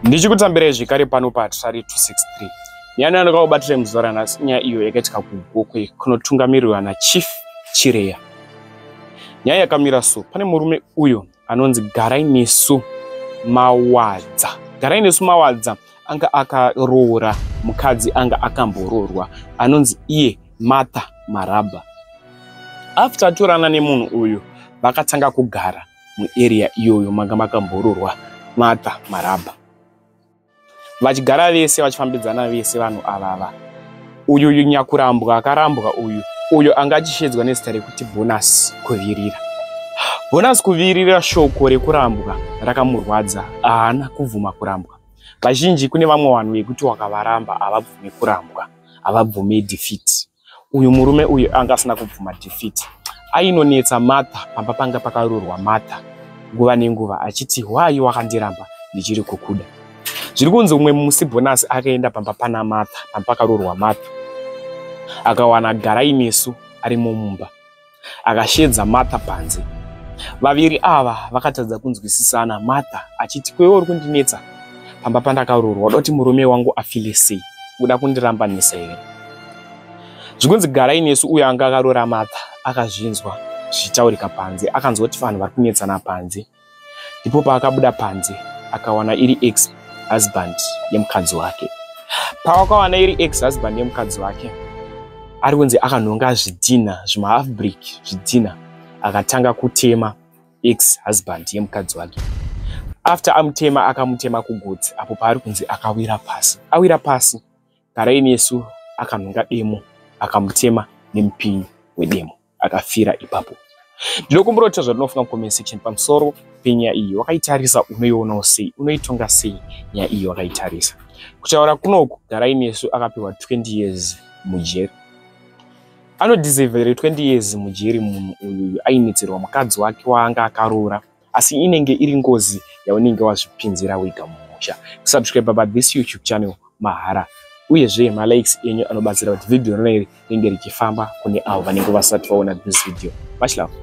ndichikutambirai zvekare pano pahatirari 263 nyaya ndandakakubatira muzuva ranhasi nyaya iyo yakaitika kugokwe kunotungamirirwa nachief chireya nyaya yakamira so pane murume uyo anonzi garai nesu mawadza garai nesu mawadza anga akaroora mukadzi anga akamboroorwa anonzi iye martha marabha after atorana nemunhu uyu vakatanga kugara muarea iyoyo manga makamboroorwa Martha Marabha. Vachigara vese vachifambidzana vese vanhu avava. Uyu uyu nyakurambwa akarambwa uyu uyo anga achishedzwa nezita rekuti Bonus Kuvirira. Bonus Kuvirira shoko rekurambwa rakamurwadza haana kubvuma kurambwa. Vazhinji kune vamwe vanhu vekuti wakavaramba havabvume kurambwa, havabvume defeat. uyu murume uyu anga asina kubvuma defeat ainonetsa martha pamba panga pakarurwa martha nguva nenguva achiti hwai wakandiramba ndichiri kukuda zviri kunzi umwe musi bhonasi akaenda pamba pana martha pamba pakarurwa martha akawana garai nesu arimo mumba akasheedza Martha panze. Vaviri ava vakatadza kunzwisisana Martha achiti kwewe uri kundinetsa pamba pandakaroorwa uda kuti murume wangu afile sei uda kundirambanisa here zvikunzi garai nesu uyo anga akaroora Martha akazvinzwa zvichitaurika panze akanzwa kuti vanhu vari kunetsana panze ndipo paakabuda panze akawana iri ex husband yemukadzi wake pawakawana iri ex husband yemukadzi wake ari kunzi akanhonga zvidhina zvimahalf brick zvidhina akatanga kutema ex husband yemukadzi wake after amutema akamutema kugotsi apo paari kunzi akawira pasi awira pasi karaini yesu akanhonga demo akamutema nemupinyi wedemo akafira ipapo ndinokumbira kuti zvauri unofunga mucomment section pamusoro penyaya iyi wakaitarisa unoionawo sei unoitonga sei nyaya iyi wakaitarisa kutaura kunoku garai nesu akapiwa 20 years mujeri anodisevere 20 years mujeri munhu uyu ainetsirwa mukadzi wake waanga akaroora asi inenge iri ngozi yaunenge wazvipinzira wega mumusha kusubscribe pa this youtube channel mahara uyezve malikes enyu anobatsira kuti vhidhiyo rona iri ringe richifamba kune avo vanenge vasati vaona this video much love